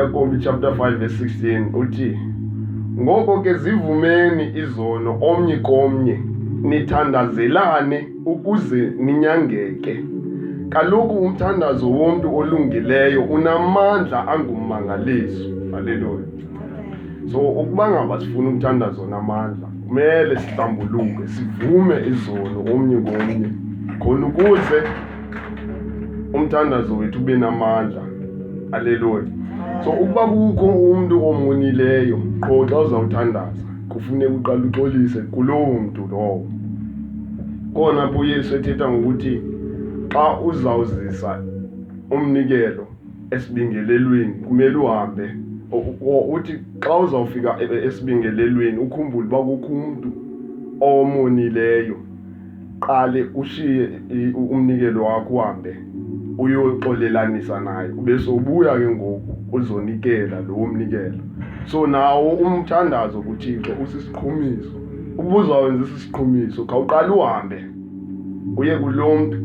uyakobi chapter 5 verse 16 uthi ngoko ke zivumeni izono omnye komnye nithandazelane ukuze ninyangeke kaloku umthandazo womntu olungileyo unamandla angummangaliso haleluya so ukuba ngaba sifuna ukuthanda zona amandla kumele sihlambuluke sivume izono omnye komnye khona ukuze umthandazo wethu ube namandla aleluya so ukuba kukho umntu omonileyo qho xa uzawuthandaza kufuneka uqala uxolise kulowo mntu lowo kona apho uyesu ethetha ngokuthi xa uzawuzisa umnikelo esibingelelweni kumele uhambe uthi xa uzawufika e, e, esibingelelweni ukhumbule uba kukho umntu omonileyo qale ushiye umnikelo wakho uhambe uyoxolelanisa naye ube sobuya ke ngoku uzonikela lowo mnikelo so nawo umthandazo kuthixo usisiqhumiso ukuba uzawenzisa isiqhumiso khawuqale uhambe Uye kulo mntu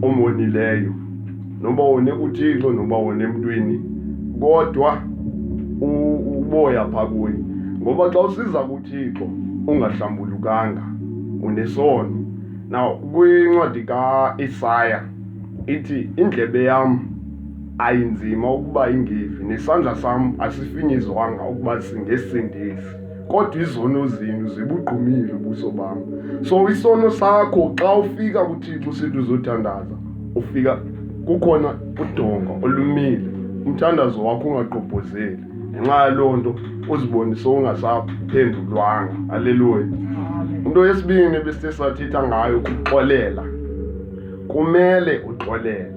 omonileyo noba wone kuthixo noba wone emntwini kodwa uboya phaa kuye ngoba xa usiza kuthixo ungahlambulukanga unesono na kwincwadi kaisaya ithi indlebe yam ayinzima ukuba ingevi nesandla sam asifinyizwanga ukuba singesindisi kodwa izono zenu zibugqumile ubuso bam so isono sakho xa ufika kuthixo usithi uzothandaza ufika kukhona udonga olumile umthandazo wakho ungagqobhozeli ngenxa yaloo nto uzibone sowungasaphendulwanga aleluya into yesibini besithe sathetha ngayo kuxolela kumele uxolele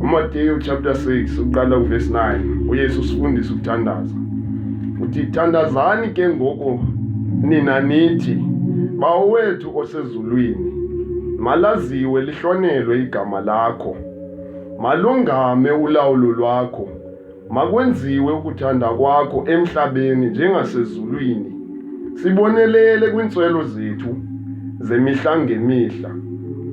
umateyu chapter 6 uqala kuvesi 9 uyesu usifundisa ukuthandaza uthi thandazani ke ngoku nina nithi bawowethu osezulwini malaziwe lihlonelwe igama lakho malungame ulawulo lwakho Makwenziwe ukuthanda kwakho emhlabeni njengasezulwini. Sibonelele kwiintswelo zethu zemihla ngemihla.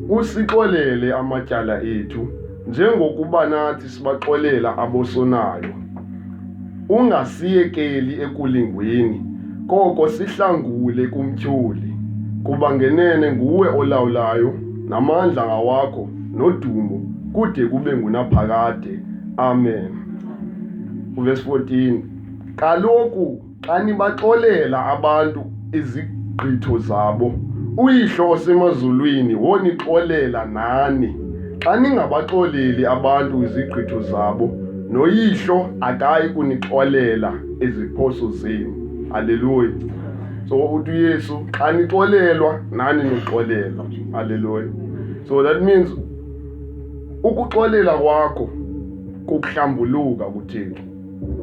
Usixolele amatyala ethu njengokuba nathi sibaxolela abosonayo. Ungasiyekeli ekulingweni, koko sihlangule kumtyholi, kuba ngenene nguwe olawulayo namandla ngawakho. nodumo kude kube ngunaphakade amen uvesi 14 kaloku xa nibaxolela abantu izigqitho zabo uyihlo osemazulwini wonixolela nani xa ningabaxoleli abantu izigqitho zabo noyihlo akayi kunixolela iziphoso zenu haleluya so uthi uyesu xa nixolelwa nani nixolelwa Hallelujah. So that means ukuxolela kwakho kukuhlambuluka kuThixo.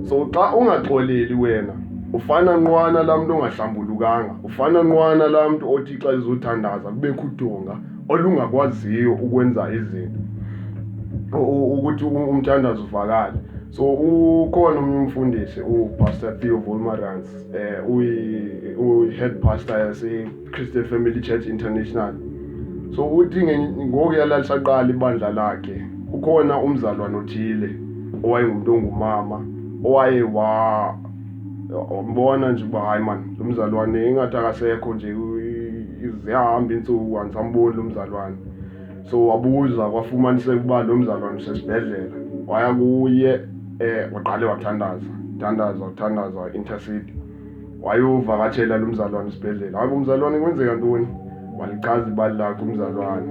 So xa ungaxoleli wena ufana nqwana laa mntu ongahlambulukanga ufana nqwana laa mntu othi xa izothandaza kubekho udonga olungakwaziyo ukwenza izinto ukuthi umthandazo uvakale so ukhona omnye umfundisi upastor theo volmarans um eh, uyi-head pastor yase Christian Family Church International so uthi ngoku yalalisaqala ibandla lakhe ukhona umzalwana othile owayengumntu ongumama owaye wa wambona nje uba hayi mani lo mzalwane ingathi akasekho nje ziyahamba iintsuku andisamboni lo mzalwane so wabuza kwafumaniseka uba lo mzalwane usesibhedlela waya kuye um waqale wathandaza thandaza uthandaza intercede wayovakatshela lo mzalwane isibhedlela hayi umzalwane kwenzeka ntoni walichaza ibali lakhe umzalwane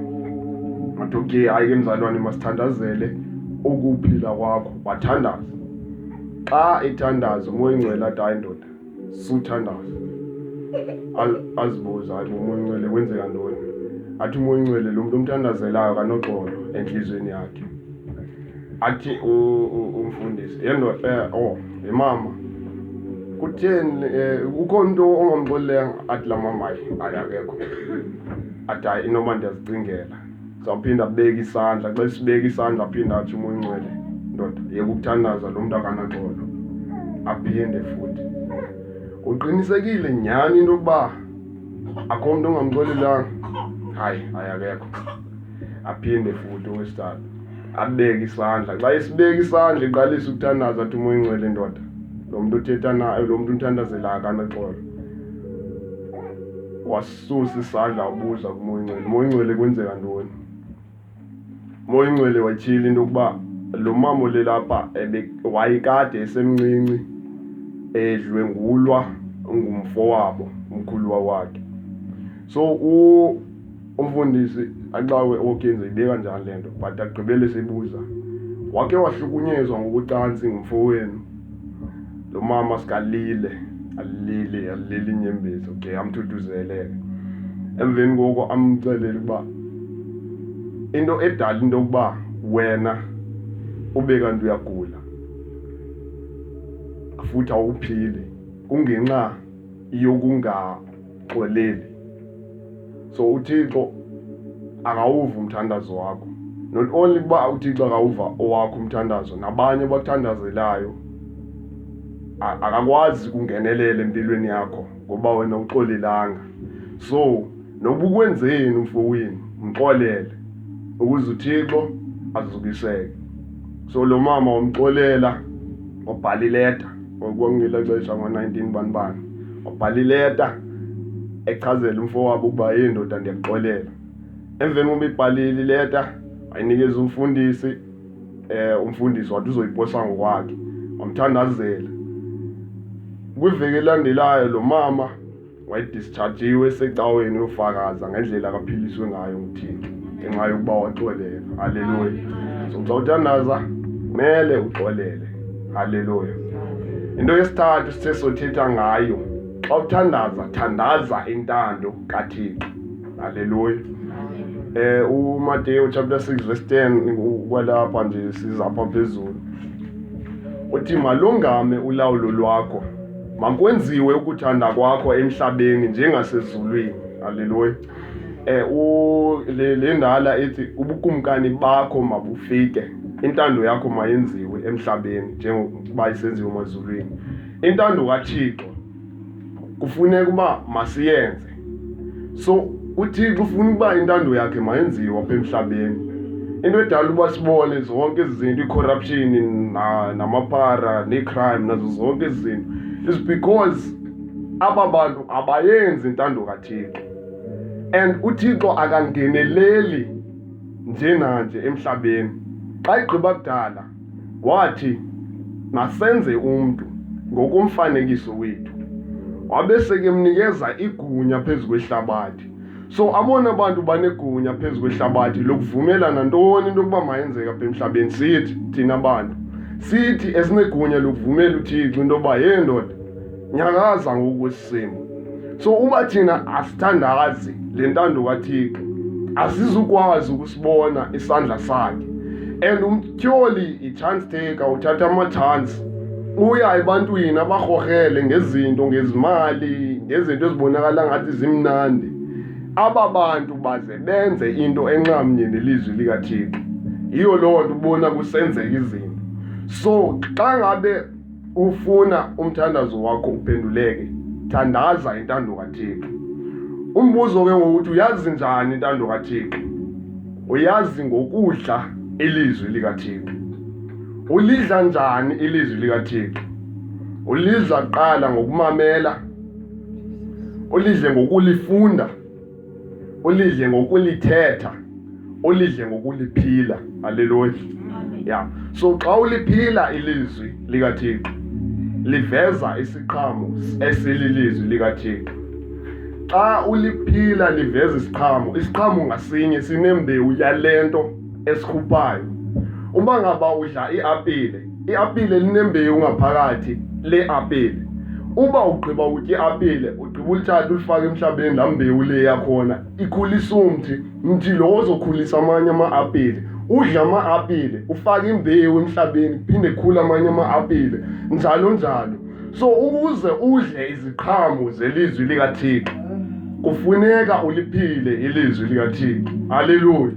wathi okay hayi ke mzalwane masithandazele ukuphila kwakho wathandaza xa ethandaza umoya ingcwele athi hayi ndoda suthandaza azibuza hayi umoya ingcwele kwenzeka ntoni athi umoya ingcwele lo mntu omthandazelayo kanoxolo entliziyweni yakhe athi umfundisi yena eh, oh imama kutheni eh, kukho into ongamxolelanga athi la mama ayi akekho athi hayi inoba ndiyazicingela sawuphinda abeke isandla xa sibeka isandla aphinda athi umoya ungcwele ndoda yeka ukuthandaza lo mntu akanaxolo aphinde futhi uqinisekile nyhani into yokuba akho mntu ongamxolelanga hayi hayi akekho aphinde futhi owesithathu abeke isandla xa esibeka isandla iqalisa ukuthandaza athi umoya ingcwele ndoda lo mntu uthetha nayo lo mntu unthandazela akanaxolo wasusa isandla wabuza kumoya ingcwele moya ingcwele kwenzeka ntoni moya ingcwele watyhila into yokuba lo mama olelapha wayekade esemncinci edlwengulwa ngumfo wabo umkhuluwa wakhe so Umfundisi axawe oKenzi ibeka njani le nto but agqibele sibuza wake wahlukunyezwa ngokucansi ngumfowenu lo mama sikalile alilile alilile inyembezi okay amthuthuzeleke emveni koko amcelele ukuba into edala into yokuba wena ube kanti uyagula futhi awuphili kungenxa yokunga Xoleli. So uThixo angawuva umthandazo wakho. Not only kuba uThixo angawuva owakho umthandazo nabanye abakuthandazelayo akakwazi ukungenelela empilweni yakho ngoba wena uxolelanga. So noba ukwenzeni umfowenu mxolele ukuze uThixo azubiseke. So lo mama wamxolela wabhala ileta ngokwangela xesha ngo-nineteen banibani wabhala ileta echazela umfo wabo ukuba yeyi ndoda ndiyakuxolela emveni koba ibhalile ileta wayinikeza umfundisi eh umfundisi wathi uzoyiposa ngokwakhe wamthandazela kwiveki elandelayo lo mama wayedischarjiwe esecaweni uyofakaza ngendlela akaphiliswe ngayo nguthixo ngenxa yokuba waxolela halleluya so xa uthandaza kumele uxolele halleluya into yesithathu sithe sothetha ngayo xa uthandaza thandaza intando kathixo halleluya eh uMateyu chapter 6 verse 10 ukwalapha nje sizapha phezulu uthi malungame ulawulo lwakho Makwenziwe ukuthanda kwakho emhlabeni njengasezulwini. Haleluya. Eh u le, le ndala ethi ubukumkani bakho mabufike. Intando yakho mayenziwe emhlabeni njengoba isenziwe emazulwini. Intando kaThixo kufuneka uba masiyenze so uthixo ufuna ukuba intando yakhe mayenziwe apha emhlabeni into edala uba sibone zonke ezi zinto icorruption namapara neecrime nazo zonke ezi zinto is because aba bantu abayenzi intando kathixo and uthixo akangeneleli njenanje emhlabeni xa igqiba kudala Wathi, Masenze umntu ngokomfanekiso wethu. Wabe sekemnikeza igunya phezu kwehlabathi. So abona bantu banegunya phezu kwehlabathi lokuvumelana ntoni into yokuba mayenzeka apha emhlabeni sithi thina bantu. Sithi esinegunya lokuvumela uThixo into yoba, yee ndoda, nyakaza ngokwesimo so uba thina asithandazi le ntando kathixo asizukwazi ukusibona isandla sakhe and umtyoli i-chance taker uthatha ama-chance uya ebantwini abarhorhele ngezinto ngezimali ngezinto ezibonakala ngathi zimnandi aba bantu baze benze into enxamnye nelizwi likathixo yiyo loo nto ubona kusenzeka izinto so xa ngabe ufuna umthandazo wakho uphenduleke thandaza intando kaThixo umbuzo ke ngokuthi uyazi njani intando kaThixo uyazi ngokudla ilizwi likaThixo ulidla njani ilizwi likaThixo ulidla qala ngokumamela ulidle ngokulifunda ulidle ngokulithetha ulidle ngokuliphila haleluya ya so xa uliphila ilizwi likathixo liveza isiqhamo esililizwi likathixo xa uliphila liveza isiqhamo isiqhamo ngasinye sinembewu yale nto esikhuphayo uma ngaba udla iapile iapile linembewu ngaphakathi le apile uba ugqiba utya iapile ugqiba ulithatha ulifake emhlabeni laa mbewu le yakhona ikhulisa umthi mthi lo ozokhulisa amanye ama-apile udla ama-apile ufake imbewu emhlabeni phinde khula amanye ama-apile njalo njalo so ukuze udle iziqhamo zelizwi likathixo kufuneka uliphile ilizwi likathixo haleluya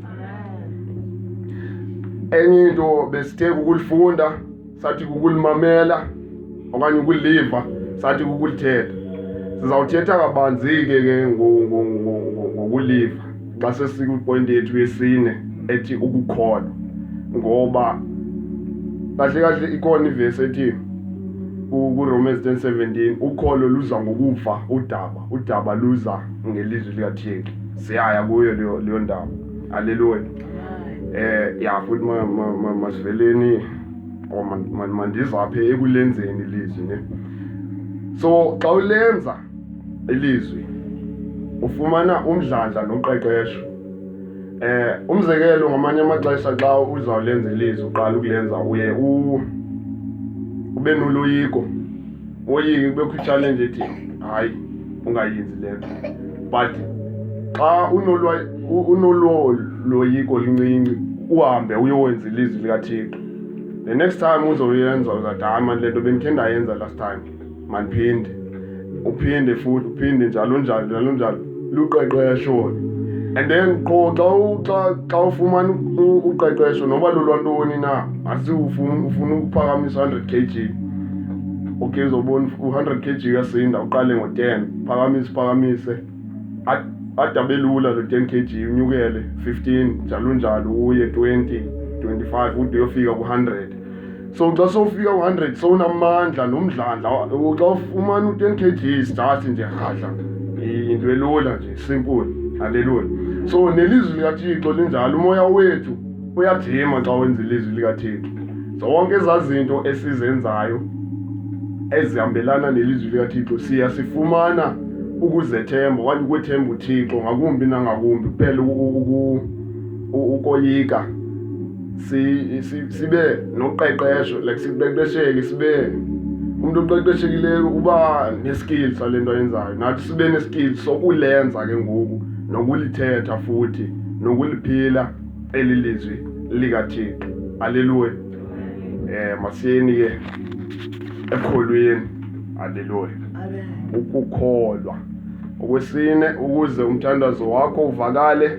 enye into besithe kukulifunda sathi kukulimamela okanye ukuliva sathi kukulithetha sizawuthetha kabanzi-ke ke ngokuliva xa sesikwipoyinti yethu yesine ethi ukukholwa ngoba kahle kahle ikhona ivesi ethi kuromans 10 17 ukholo luza ngokuva udaba udaba luza ngelizwi likathixo siyaya kuyo leyo leyo ndawo aleluya eh ya futhi ma- ma- ma- masiveleni or man- man- mandizaphe ekulenzeni ilizwi ne so xa ulenza ilizwi ufumana umdlandla noqeqesho eh umzekelo ngamanye amaxesha xa uzawulenza ilizwi uqala ukulenza uye u ube noloyiko Oyingi kubekho i-challenge ethi hayi ungayenzi le nto but xa unololoyiko lincinci uhambe uyowenza ilizwi likathixo the next time uzoyenza uzathi hayi mani le nto bendikhe ndayenza last time mandiphinde uphinde futhi uphinde njalo njalo njalo njalo luqeqesho and then qho xa xa xa ufumana uqeqesho noba lolwantoni na asi ufuna ufuna ukuphakamisa hundred k g okay uzobona u-hundred k g uyasinda uqale ngo-ten phakamise phakamise ade abe lula lo ten k g unyukele fifteen njalo njalo uye twenty twenty five ude uyofika ku-hundred so xa sofika u-hundred sowunamandla nomdlandla xa ufumana u-ten kg stasi nje rhadla into elula nje simple haleluya so nelizwi likathixo linjalo umoya wethu uyajima xa wenza ilizwi likathixo zonke ezaa zinto esizenzayo ezihambelana nelizwi likathixo siya sifumana ukuzethemba okanye ukwethemba uthixo ngakumbi nangakumbi kuphela ukoyika sibe noqeqesho like siqeqesheke sibe umntu oqeqeshekileyo uba neskill sale nto ayenzayo nathi sibe neskill sokulenza ke ngoku nokulithetha futhi nokuliphila eli lizwi likathixo aleluya um masiyeni ke ekholweni aleluya ukukholwa okwesine ukuze umthandazo wakho uvakale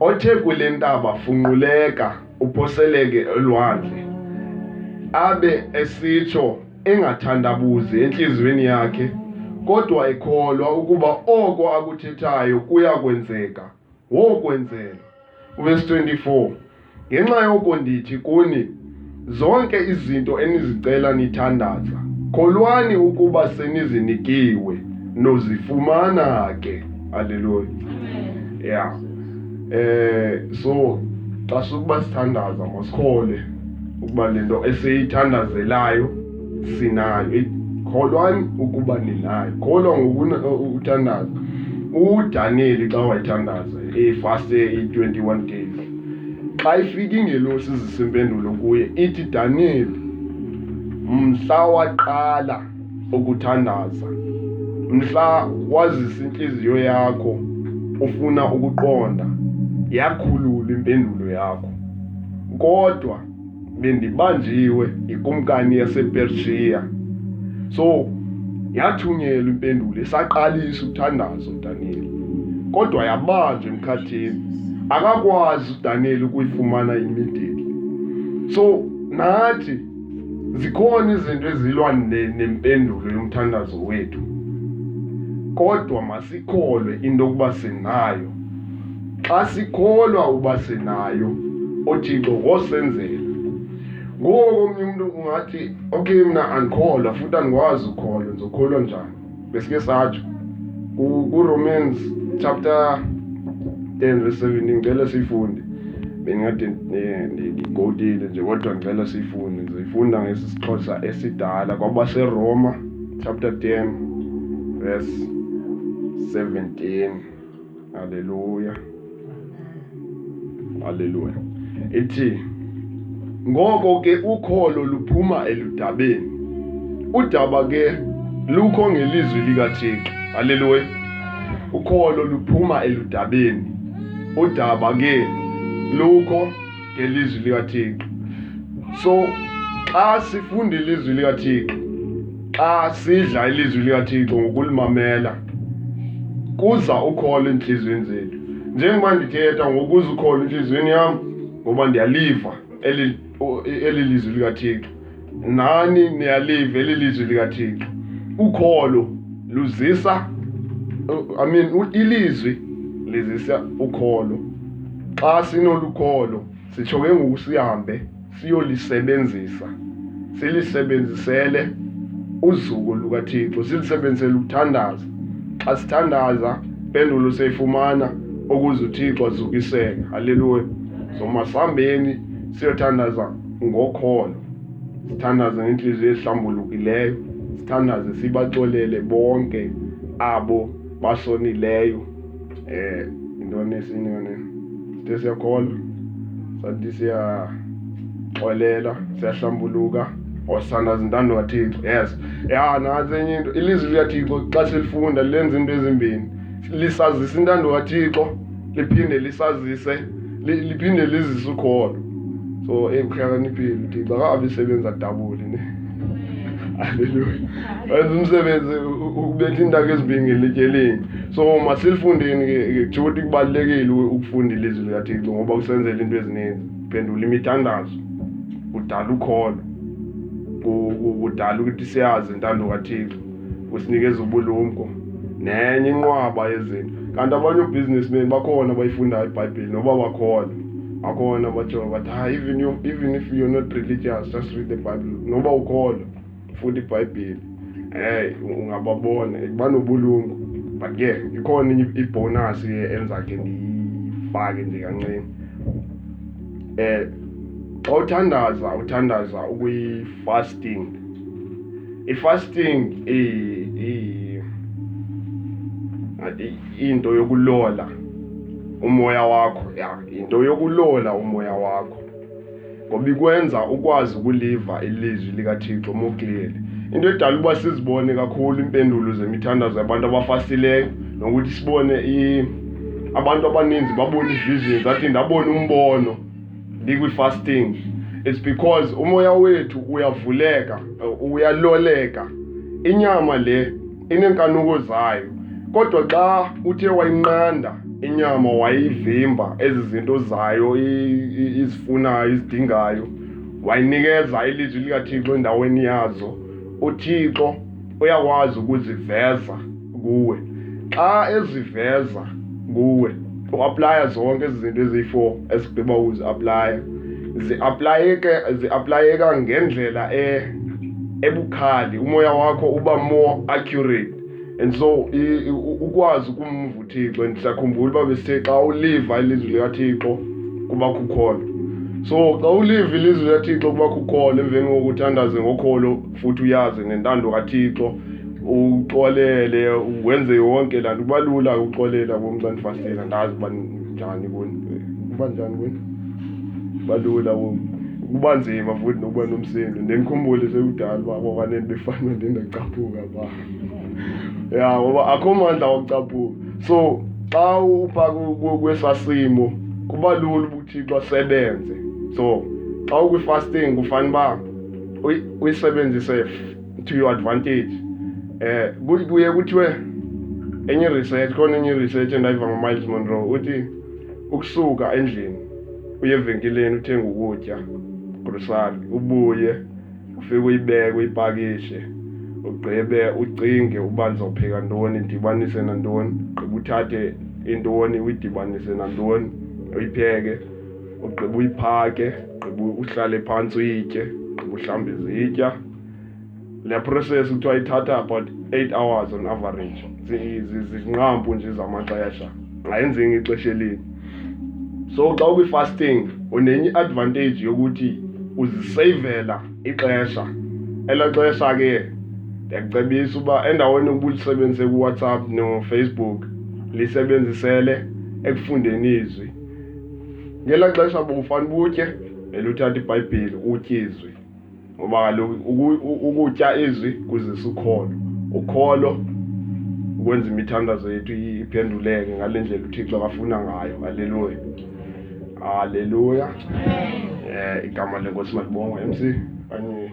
othe kule ntaba funquleka uphoseleke elwandle, abe esitsho engathandabuzi entliziyweni yakhe, kodwa ekholwa ukuba oko akuthethayo kuya kwenzeka, wokwenzeka. Verse 24. Ngenxa yoko ndithi kuni, zonke izinto enizicela nithandaza, kholwani ukuba senizinikiwe, nozifumana ke. Haleluya. Ya. Eh so xa sukuba sithandaza masikhole ukuba le nto esiyithandazelayo sinayo. Kholwani ukuba ninayo. Kholwa ngokuthandaza. UDaniyeli xa wayithandaza efaste i-21 days Xa ifika ingelosi izisa impendulo kuye ithi, Daniyeli, mhla waqala ukuthandaza, mhla wazisa intliziyo yakho ufuna ukuqonda, yakhulula impendulo yakho. Kodwa bendibanjiwe yikumkani yasepershiya so yathunyelwa impendulo isaqalisa uthandazo udaniyeli kodwa yabanjwa emkhathini akakwazi udaniyeli ukuyifumana imideli so nathi zikhona izinto ezilwa nempendulo yomthandazo wethu kodwa masikholwe into yokuba sinayo Xa sikholwa uba sinayo uThixo ngosenzela. Ngoko komnye umntu ungathi okay mna andikholwa futhi andikwazi ukholwa ndizokholwa njani besike satsho kuromans chapter 10 verse 7 ndicela siyifunde bendingathi eh, ndiyigotile nje kodwa ndicela siyifunde ndizoyifunda ngesi sixhosa esidala kwabaseroma chapter 10 verse 17 Haleluya. Haleluya. Ithi ngoko ke ukholo luphuma eludabeni. Udaba ke lukho ngelizwi likaThixo. Haleluya. Ukholo luphuma eludabeni. Udaba ke lukho ngelizwi likaThixo so xa sifunda ilizwi likaThixo xa sidla ilizwi likaThixo ngokulimamela kuza ukholo entliziyweni zethu njengoba ndithetha ngokuza ukholo entliziyweni yam ngoba ndiyaliva eli lizwi likaThixo nani niyalive eli lizwi likathixo ukholo luzisa i mean ilizwi lizisa ukholo xa sinolukholo sitsho ke ngoku sihambe siyolisebenzisa silisebenzisele uzuko lukathixo silisebenzisele ukuthandaza xa sithandaza impendulo seyifumana ukuze uthixo azukiseke halleluya so masihambeni siyothandaza ngokholo sithandaze ngentliziyo ehlambulukileyo sithandaze sibaxolele bonke abo basonileyo eh intoni esinye yona sithe siyakholwa sathi siyaxolela siyahlambuluka osanda zintando kathixo yes ya nantsi enye into ilizwi likathixo xa silifunda lenza into ezimbini lisazisa intando kathixo liphinde lisazise liphinde lizise ukholo so eyi kuhlakaniphile uthi bakabe isebenza dabuli ne halleluya wenza umsebenzi ukubetha intaka ezibingile etyeleni so masilifundeni ke kuthiwa ukuthi kubalulekile ukufunda ilizwi likathixo ngoba kusenzela into ezininzi phendula imithandazo udala ukholo kudala ukuthi siyazi intando kathixo usinikeza ubulumko nenye inqwaba yezinto kanti abanye obusinessmen bakhona bayifundayo ibhayibhile noba bakhona bakhona batsho bathi ha even, you, even if you're not religious just read the bible noba ukhona funda ibhayibhile hey ungababona banobulungu but ke ikhona ibhonus ke enzakhe ndiyifake nje kancinci um xa uthandaza uthandaza ukuyif fasting i-fasting into yokulola umoya wakho ya into yokulola umoya wakho ngoba ikwenza ukwazi ukuliva ilizwi likathixo mokleli into edala uba sizibone kakhulu iimpendulo zemithandazo yabantu abafasileyo nokuthi sibone abantu abaninzi babona ivision zathi ndabona umbono Liquid fasting. It's because umoya wethu uyavuleka, uyaloleka. Inyama le inenkanuko zayo. Kodwa xa uthe wayinqanda inyama wayivimba ezi zinto zayo izifunayo izidingayo wayinikeza ilizwi likaThixo endaweni yazo, uThixo uyakwazi ukuziveza kuwe xa eziveza kuwe uaplaya zonke ezi zinto eziyi-four esigqiba ukuziaplaya ziaplayeke ziaplayeka ngendlela e ebukhali umoya wakho uba more accurate and so ukwazi ukumva uthixo and siyakhumbula uba besithe xa uliva ilizwi likathixo kuba khukhona so xa uliva ilizwi likathixo kuba khukhona emveni kokuthandaze ngokholo futhi uyazi ngentando kathixo uxolele wenze yonke laa nto kuba lula uxolela bomntu andifastela ndazi uba njani kuni kuba njani kuni kuba lula kuba nzima futhi nokuba nomsindo ndendikhumbule sekudala uba kwakanele befana ndingacaphuka ba ya ngoba akho mandla wacaphuka so xa upha kwesaa simo kuba lula uba uthixo asebenze so xa ukwifasting kufanele uba uyisebenzise to your advantage eh kuye kuthiwe enye research khona enye research endayiva ngomiles monroe uthi ukusuka endlini uye evenkileni uthenge ukutya grocery ubuye ufike uyibeke uyipakishe ugqibe ucinge uba ndizopheka ntoni ndidibanise nantoni gqiba uthathe intoni uyidibanise nantoni uyipheke ugqiba uyiphake ugqiba uhlale phantsi uyitye ugqiba uhlambe izitya le process kuthiwa ithatha about eight hours on average zinqampu nje zamaxesha ngayenzeki ngexesha elini so xa ukwi-fasting unenye i-advantage yokuthi uziseyivela ixesha ela xesha ke ndiyakucebisa uba endaweni yokuba ulisebenzise kuwhatsapp nofacebook lisebenzisele ekufundeni izwi ngelaa xesha bufane ubutye eluthatha ibhayibhile utye izwi ngoba kaloku ukutya izwi kuzisa ukholo ukholo ukwenza imithandazo yethu iphenduleke ngale ndlela uthixo akafuna ngayo haleluya haleluya um igama lenkosi malibongwa mc kanye